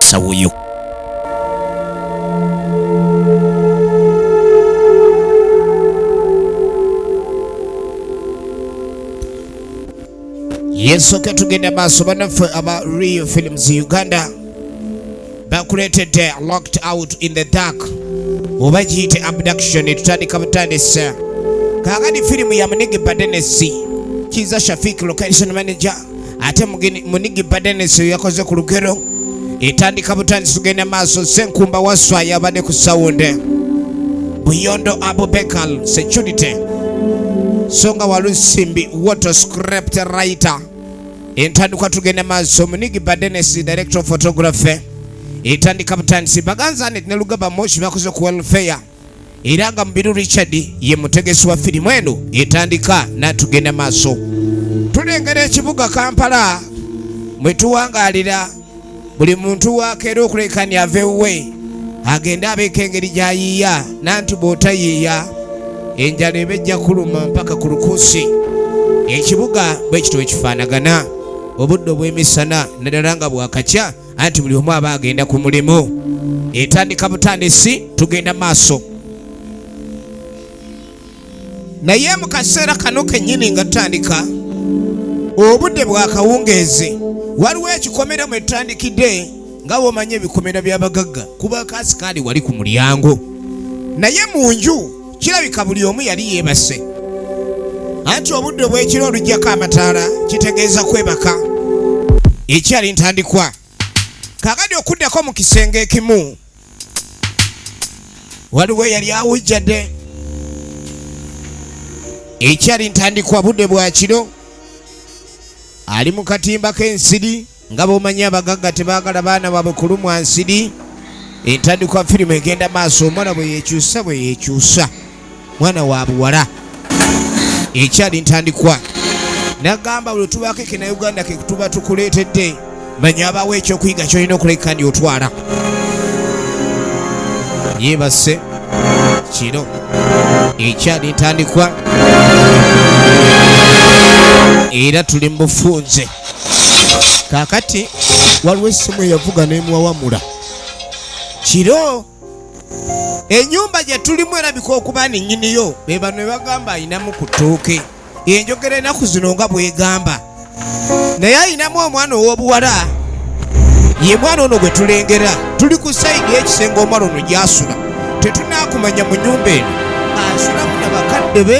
sawuyo yesooka tugenda maaso banaffe aba real films uganda bakuleetedde locked out in the dark oba giyite abduction etutandika butandisa kaakati firimu ya munege badenesi kiza shafik location manager ate munigi badenesi yakoze ku lugero etandika butandisi tugenda maaso senkumba waswa yabadde ku sawunde buyondo abubekal security songa walusimbi water scrapt writer entandikwa tugenda maaso munigi badenesi director of photography etandika butandisi baganzane ne lugaba moshi bakoze ku welfare era nga Mubiru Richard ye mutegesi wa firimu eno etandika n'atugenda maaso tulengera ekibuga Kampala mwe tuwangaalira buli muntu wakeera okulekani ave wuwe agende abeeko engeri gy'ayiiya nanti bw'otayiiya enjala eba ejja kuluma mpaka ku lukuusi ekibuga bwe kityo ekifaanagana obudde obw'emisana naddala nga bwakakya anti buli omu aba agenda ku mulimu etandika butandisi tugenda maaso naye mu kaseera kano kennyini nga tutandika obudde bwakawungeezi waliwo ekikomera mwe tutandikidde nga womanya ebikomera by'abagagga kuba kaasi kaali wali ku mulyango naye mu nju kirabika buli omu yali yeebase anti obudde obw'ekiro oluggyako amataala kitegeeza kwebaka ekyali ntandikwa kakadi okuddako mu kisenge ekimu waliwo eyali awujjadde ekyali ntandikwa budde bwa kiro ali mu katimba k'ensiri nga bwomanyi abagagga tebagala baana baabwe kulumwa nsiri entandikwa firimu egenda maaso omwana bwe yekyusa bwe yekyusa mwana wa buwala ekyali ntandikwa nagamba buli tubaako ekina uganda ketuba tukuleetedde manya abawo ekyokuyiga kyolina okuleka ndi otwala yeebase kino ekyali ntandikwa era tuli mu bufunze kakati waliwo essimu eyavuga nemuwawamula kiro enyumba gyetulimu erabika okuba ninyiniyo bebano ebagamba ayinamu ku ttooke enjogera enaku zino nga bwegamba naye ayinamu omwana owobuwala ye mwana ono gwe tulengera tuli ku sayidi ekisenge omwana ono gyasula tetunakumanya mu nyumba eno asulamu na bakadde be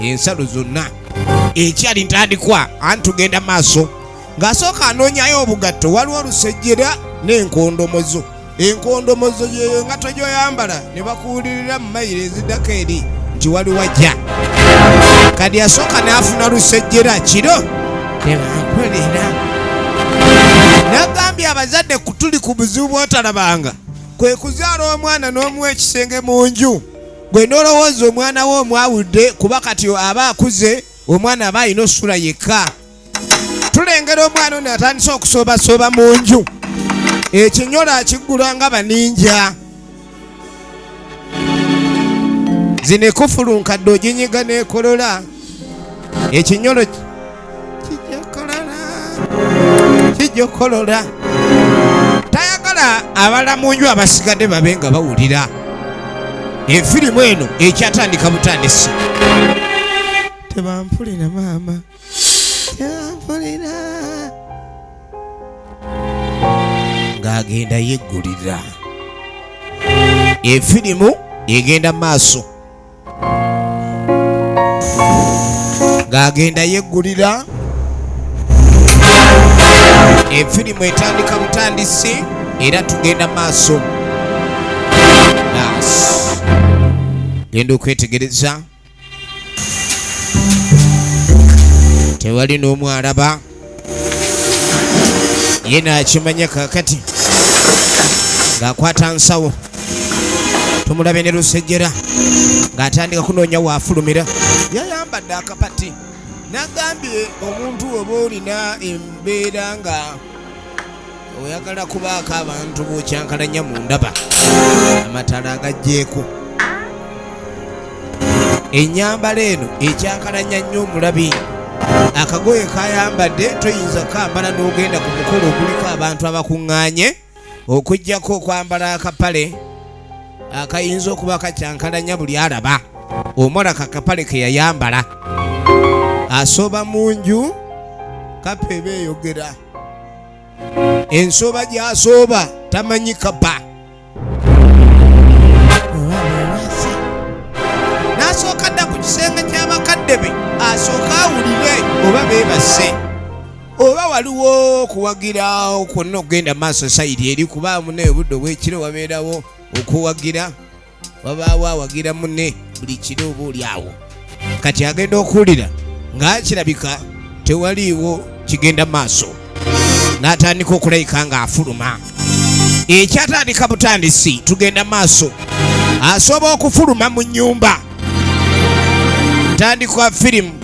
ensalo zonna ekyali ntandikwa anti tugenda maaso ng'asooka anoonyayo obugatto waliwo olusejjera n'enkondomozo enkondomozo yeyo nga tojoyambala ne bakuwulirira mu mayiro ezidako eri nti wali wajja kadi asooka n'afuna lusejjera kiro nebankolera nagambye abazadde kutuli ku buzibu bwotalabanga kwe kuzaala omwana n'omuwa ekisenge mu nju gwe n'olowooza omwana we omwawudde kuba kati aba akuze omwana aba alina osula yekka tulengera omwana ono atandise okusoobasooba mu nju ekinyolo akiggula nga baninja zino ekufulu nkadde oginyiga n'ekolola ekinyolo kijokolola tayagala abala mu nju abasigadde babe nga bawulira efirimu eno ekyatandika butandisi tebampulira maama tebampulira ng'agenda yeggulira efirimu egenda maaso ng'agenda yeggulira efirimu etandika butandisi era tugenda maaso nas genda okwetegereza tewali n'omu alaba ye nakimanya kakati ng'akwata nsawo tumulabe ne lusejjera ng'atandika kunoonya waafulumira yayambadde akapati nagambye omuntu oba olina embeera nga oyagala kubaako abantu bokyankalanya mu ndaba amatala agajjeeko enyambala eno ekyankalanya nnyo omulabi akagoye kayambadde toyinza kukambala n'ogenda ku mukolo oguliko abantu abakuŋŋaanye okugyako okwambala akapale akayinza okuba kakyankalanya buli alaba omwala kakapale ke yayambala asooba mu nju kapeeba eyogera ensooba gyasooba tamanyi kaba nasooka dda ku kisenge ky'abakadde be asooka awulire oba beebase oba waliwo okuwagira kwonna okugenda maaso sayidi eri kuba munaye obudde obwekiro wabeerawo okuwagira wabaawo awagira mune buli kiro oba oli awo kati agenda okuwulira ng'akirabika tewaliiwo kigenda maaso n'atandika okulayika ng'afuluma ekyatandika butandisi tugenda maaso asobola okufuluma mu nyumba tandikwa firimu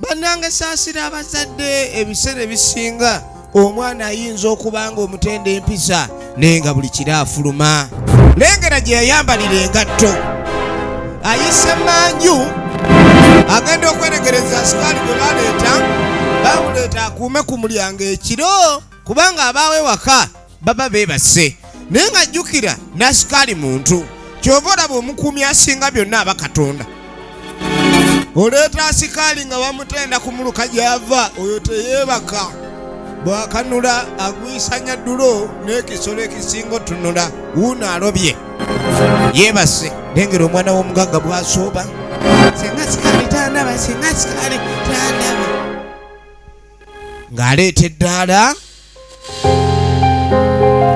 bannange saasira abazadde ebiseera ebisinga omwana ayinza okuba nga omutenda empisa naye nga buli kiro afuluma lengera gye yayambalira engatto ayise manju agenda okweregereza asikaali gwe baleeta bamuleeta akuume ku mulyango ekiro kubanga abaawo ewaka baba beebase naye nga jjukira nasikaali muntu kyova olaba omukuumi asinga byonna aba katonda oleeta asikaali nga bamutenda ku muluka gyava oyo teyeebaka bwakanula agwisanya ddulo n'ekisolo ekisinga otunula wuuno alobye yeebase nengera omwana w'omugagga bwasooba singa sikaali tandaba singa sikaali tandaba ng'aleeta eddaala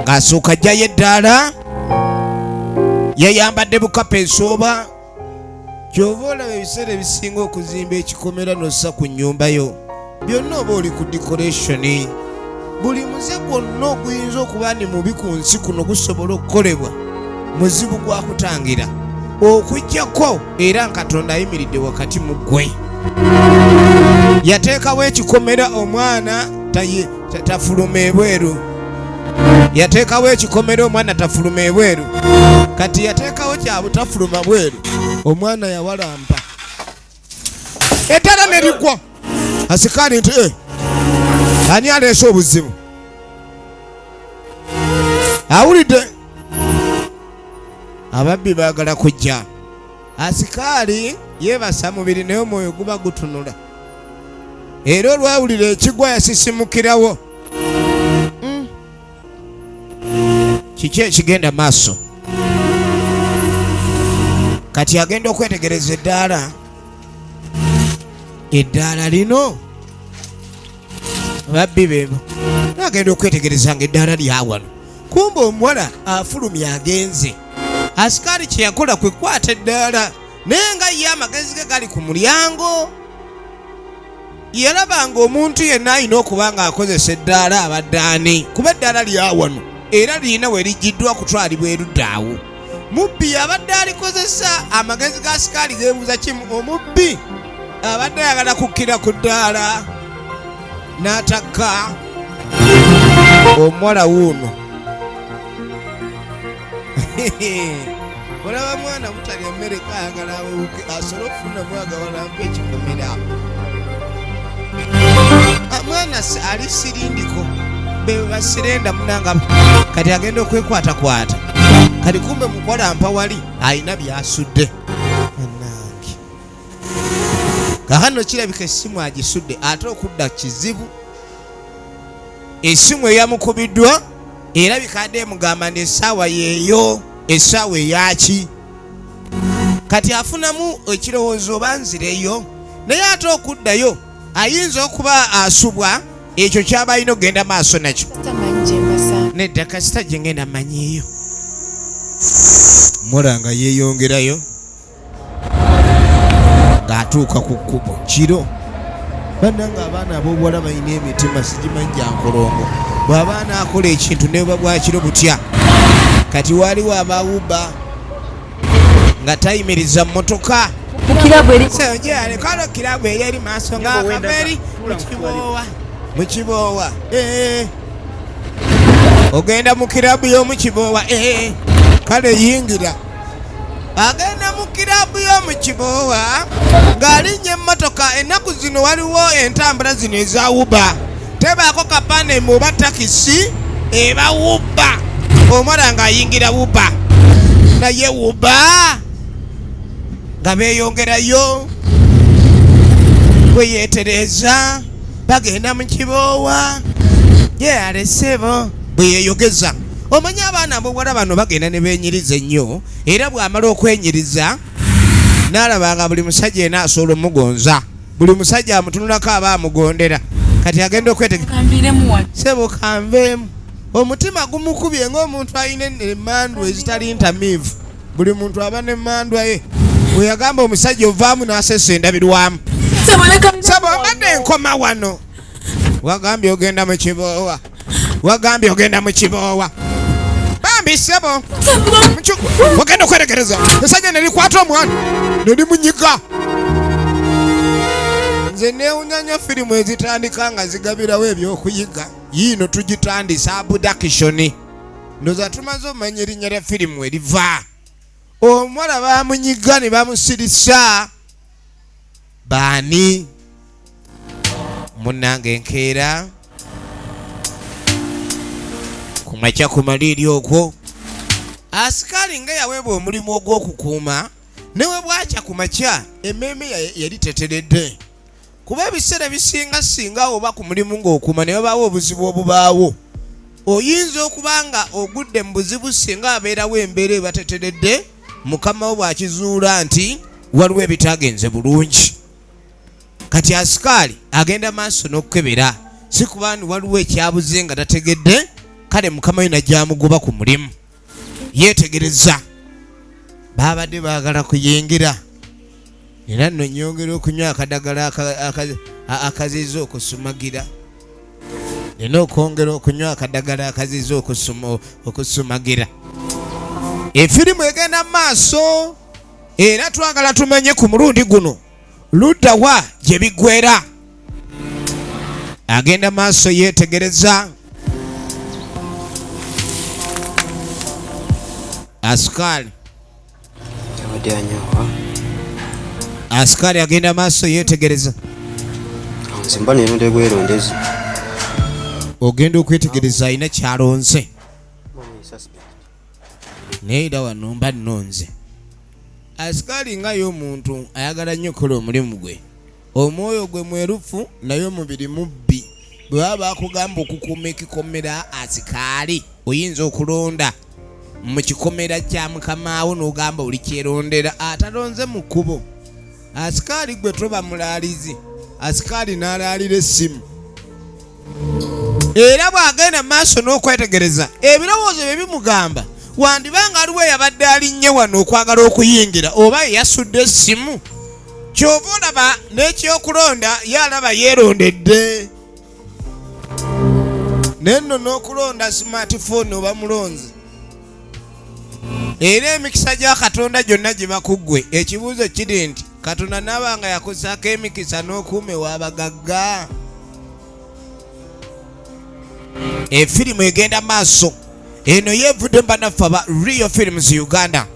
ng'asooka ajjayo eddaala yayambadde bukapa ensooba kyova olaba ebiseera ebisinga okuzimba ekikomera nossa ku nnyumba yo byonna oba oli ku dikorationi buli muze gwonna oguyinza okuba ni mubi ku nsi kuno gusobola okukolebwa muzibu gwa kutangira okujjako era nkatonda ayimiridde wakati mu ggwe yateekawo ekikomera omwana tafuluma ebweru yateekawo ekikomera omwana tafuluma ebweru kati yateekawo kyabutafuluma bweru omwana yawalampa etala ne ligwa asikaani nti eh, ani aleese obuzibu awulidde ababbi baagala kujja asikaali yeebasa mubiri naye omwoyo guba gutunula era olwawulira ekigwa yasisimukirawo kiki ekigenda maaso kati agenda okwetegereza eddaala eddaala lino babbi bebo agenda okwetegereza nga eddaala lyawano kumba omuwala afulumya agenze asikaali kyeyakola kwekwata eddaala naye nga ye amagezi ge gali ku mulyango yalaba ng'omuntu yenna alina okuba ng'akozesa eddaala abadde ani kuba eddaala lyawano era lirina we liggyiddwa kutwalibwa eruddaawo mubbi yabadde alikozesa amagezi ga sikaali geebuuza kimu omubbi abadde ayagala kukkira ku ddaala n'atakka omuwala wuuno olaba mwana butalya mmere kayagala awuke asobole okufuna mwaga walampa ekikomera ah, mwana ali sirindiko bebasirenda munanga kati agenda okwekwatakwata kati kumbe mukola mpa wali alina byasudde anange kakano kirabika essimu agisudde ate okudda kizibu esimu eyamukubiddwa era bikadde emugamba nti essaawa yeeyo essaawa eyaki kati afunamu ekirowoozo oba nzireyo naye ate okuddayo ayinza okuba asubwa ekyo kyaba alina okugenda maaso nakyo nedda kasita gye ngenda manyiyo mulanga yeeyongerayo ng'atuuka ku kkubo kiro bannanga abaana ab'obuwala balina emitima sigimanyi gya nkolongo bw'aba anaakola ekintu neba bwakiro butya kati waaliwo abawuba nga tayimiriza mmotoka kalo kirabu eri eri maaso nga kaveri mukiboowa mukiboowa eh. ogenda mu kirabu y'omu kiboowa eh. kale yingira agenda mu kiraabu y'omu kiboowa ng'alinnya emmotoka ennaku zino waliwo entambula zino ezawuba tebaako kapande mu oba takisi eba wubba omwana ng'ayingira wubba naye wubba nga beeyongerayo bwe yeetereeza bagenda mu kiboowa ye alesebo bwe yeeyogeza omanyi abaana amubuwala bano bagenda ne benyiriza ennyo era bw'amala okwenyiriza n'alaba nga buli musajja ena asobola omugonza buli musajja amutunulako aba amugondera kati agenda okwetegesebukanveemu omutima gumukubye ng'omuntu alina emandwa ezitali ntamiivu buli muntu aba n'emandwa ye weyagamba omusajja ovaamu n'asesa endabirwamu sabwabadde enkoma wano wagambye ogenda mu kiboowa wagambye ogenda mu kiboowa bambi sebo ogenda okwerekereza esajja nelikwata omwana nelimunyiga nze newunyanya firimu ezitandika nga zigabirawo ebyokuyiga yiino tugitandise abudakishoni ndoza tumaze omanya erinnya lya firimu eriva omuwala bamunyiga ne bamusirisa baani munange enkeera ku makya ku maliiri okwo asikaali nga yaweebwa omulimu ogw'okukuuma ne bwe bwakya ku makya emmeeme yali teteredde kuba ebiseera ebisinga singa oba ku mulimu ng'okuuma ne babaawo obuzibu obubaawo oyinza okuba nga ogudde mu buzibu singa abeerawo embeera ebateteredde mukama wo bw'akizuula nti waliwo ebitaagenze bulungi kati asikaali agenda maaso n'okukebera si kuba ni waliwo ekyabuze nga tategedde kale mukama we nagyamugoba ku mulimu yeetegereza baabadde baagala kuyingira era nno nyongera okunywa akadagala akaziza okusumagira nina okwongera okunywa akadagala akaziza okusumagira efirimu egenda mu maaso era twagala tumenye ku mulundi guno luddawa gye biggwera agenda maaso yeetegereza asukaali Askari agenda maaso yeetegereza. Nzimba neronde bwerondezi. Ogenda okwetegereza alina kyalonze. Naye era wano mba nnonze. Askari nga y'omuntu ayagala nnyo okukola omulimu gwe. Omwoyo gwe mwerufu naye omubiri mubbi. Bwe baba bakugamba okukuuma ekikomera asikaali, oyinza okulonda mu kikomera kya mukamaawo n'ogamba oli kyerondera atalonze mu kkubo. Asikaali gwe toba mulaalizi, asikaali n'alaalira essimu. Era bw'agenda mu maaso n'okwetegereza ebirowoozo bye bimugamba wandiba ng'aliwo eyabadde alinnye wano okwagala okuyingira oba eyasudde essimu. kyova olaba n'ekyokulonda ye alaba yeerondedde naye nno n'okulonda smartphone oba mulonzi era emikisa gya katonda gyonna giba ku ggwe ekibuuzo kiri nti katonda naaba nga yakusaako emikisa n'okuuma ew'abagagga efirimu egenda maaso eno yevudde mbanaffe aba real films uganda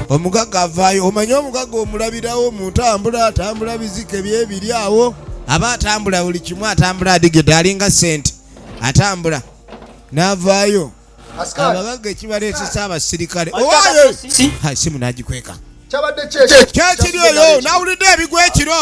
omugaga avaayo omanyi omugaga omulabirawo muntambula atambula bizike byebiri awo aba atambula buli kimu atambula adigede alinga sente atambula navaayo abagaga ekibaleetesa abasirikale owayo simu nagikweka kyakiri oyo nawulidde ebigwa ekiro